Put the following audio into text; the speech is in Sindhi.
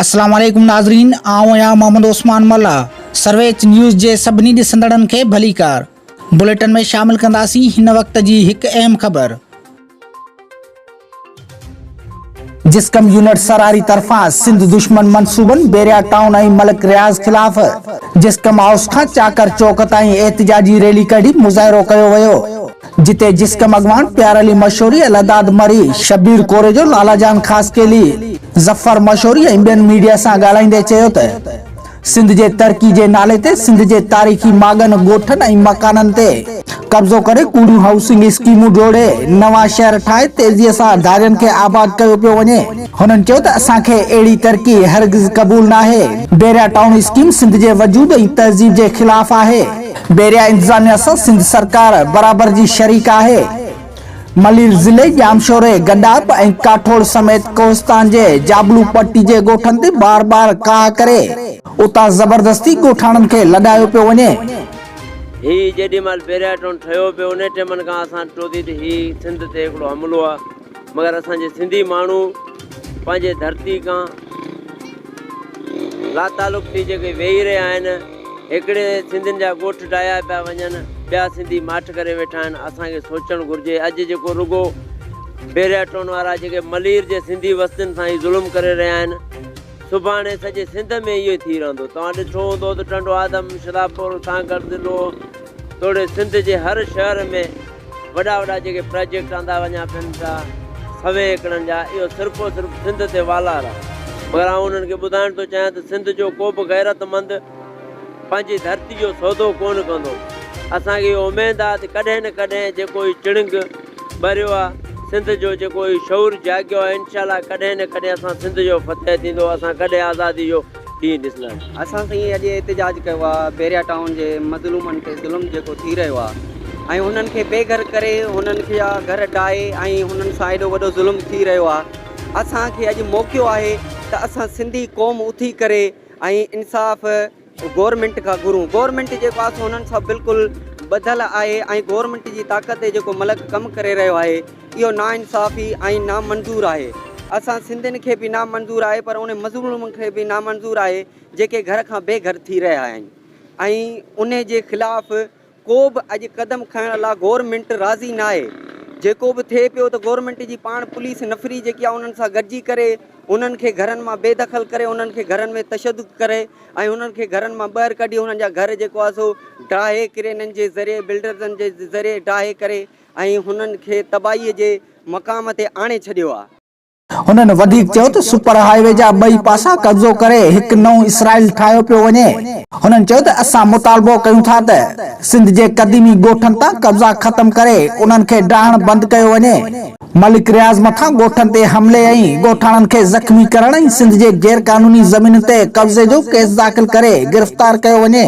السلام عليڪم ناظرين آئون آهيان محمد عثمان ملاح سرويچ نيوز جي سڀني ڏسندڙن کي ڀليڪار بليٽن ۾ شامل ڪنداسين هن وقت جي هڪ اهم خبر جسقم يونٽ سراري طرفان سنڌ دشمن منصوبن بيريا ٽائون ۽ ملڪ رياض خلاف جسقم هائوس کان چاڪر چوڪ تائين احتجاجي ريلي ڪڍي مظاهرو ڪيو ويو جتي جسقم اڳواڻ پيار علي مشوري الهداد مري شبير ڪوريجو لالا جان خاصخيلي ظفر مشوري ۽ ٻين ميڊيا سان ڳالهائيندي چيو ته سنڌ جي ترقي جي نالي تي سنڌ جي تاريخي ماڳن، ڳوٺن ۽ مڪانن تي قبضو ڪري ڪوڙيون هائوسنگ اسڪيمون جوڙي نوان شهر ٺاهي تيزي سان ڌارين کي آباد ڪيو پيو وڃي. هنن چيو ته اسان کي اهڙي ترقي هرگز قبول ناهي. بحريا ٽائون اسڪيم سنڌ جي وجود ۽ تهذيب جي خلاف آهي. بحريا انتظاميا سان سنڌ سرڪار برابر جي شريڪ آهي. ملير ضلعي ڄامشوري، گڏاپ ۽ ڪاٺوڙ سميت ڪوهستان جي جابلو پٽي جي ڳوٺن تي بار بار ڪاهه ڪري، اتان زبردستي ڳوٺاڻن کي لڏايو پيو وڃي. هي جيڏي مهل پهريان ٽون ٺهيو پيو انهي ٽيمن کان اسان ٽو ٿي ته هي سنڌ تي هڪڙو حملو آ مگر اسان جي سنڌي ماڻهو پنهنجي ڌرتي کان لاتعلق ٿي جيڪي ويهي رهيا آهن هيڪڙي سنڌين جا ڳوٺ ڊاهيا پيا وڃن ٻيا سنڌي ماٺ ڪري ويٺا آهن اسان کي سوچڻ گهرجي اڄ جيڪو رڳو بحريا ٽون وارا جيڪي ملير جي سنڌي وستين سان ئي ظلم ڪري رهيا آهن سڀاڻي سڄي سنڌ ۾ اهو ئي ٿي رهندو توهان ڏٺو هوندو ته ٽنڊو آدم شدابپور تانگهڙ ضلعو توڙي سنڌ جي هر شهر ۾ وڏا وڏا جيڪي پراجيڪٽ آندا وڃا پين پيا سوين ايڪڙن جا اهو صرف و صرف سنڌ تي والار آهي مگر آئون انهن کي ٻڌائڻ ٿو چاهيان ته سنڌ جو ڪو به غيرت مند پنهنجي ڌرتي جو سودو ڪونه ڪندو اسان کي اهو اميد آهي ته ڪڏهن نه ڪڏهن جيڪو هي چڻنگ ٻريو آهي سنڌ جو جيڪو هي شعور جاڳيو آهي انشاء الله ڪڏهن نه ڪڏهن اسان سنڌ جو فتح ٿيندو اسان ڪڏهن آزادي جو ڏينهن ڏسندا آهيون. اسان سائين اڄ احتجاج ڪيو آهي بحريا ٽائون جي مظلومن تي ظلم جيڪو ٿي رهيو آهي ۽ انهن کي بي گهر ڪري انهن جا گهر ڊاهي ۽ انهن سان ايڏو وڏو ظلم ٿي رهيو آهي اسان کي اڄ موقعو آهي ته اسان سنڌي قوم اٿي ڪري ۽ انصاف گورنمينٽ کان گهرون گورنمينٽ جيڪو آهي سو انهن سان بلڪل ٻڌل آهي ۽ گورنمينٽ جي طاقت جيڪو ملڪ ڪم ڪري رهيو آهي اهو ناانصافي ۽ نامنظور آهي. اسان سنڌين کي به نامنظور آهي پر انهن مظلومن کي به نامنظور آهي جيڪي گهر کان بي گهر ٿي رهيا آهن ۽ انهي جي خلاف ڪو به اڄ قدم کڻڻ لا گورنمينٽ راضي ناهي جيڪو به ٿئي پيو ته گورنمينٽ جي پاڻ پوليس نفري جيڪي آهي انهن سان گڏجي ڪري انهن کي گهرن مان بي دخل ڪري انهن کي گهرن ۾ تشدد ڪري ۽ انهن کي گهرن مان ٻهر ڪڍي انهن جا گهر جيڪو آهي سو ڊاهي ڪرينن جي ذريعي بلڊرزن جي ذريعي ڊاهي ڪري ۽ هنن کي تباهيء جي مقام تي آڻي ڇڏيو آهي. هنن وڌيڪ چيو ته سپر هاء وي جا ٻئي پاسا قبضو ڪري هڪ نئون اسرائيل ٺاهيو پيو وڃي. هنن چيو ته اسان مطالبو ڪيون ٿا ته سنڌ جي قديمي ڳوٺن تان قبضا ختم ڪري انهن کي ڊاهڻ بند ڪيو وڃي. ملڪ رياض مٿان ڳوٺن تي حملي ۽ ڳوٺاڻن کي زخمي ڪرڻ ۽ سنڌ جي غير قانوني زمينن تي قبضي جو ڪيس داخل ڪري گرفتار ڪيو وڃي.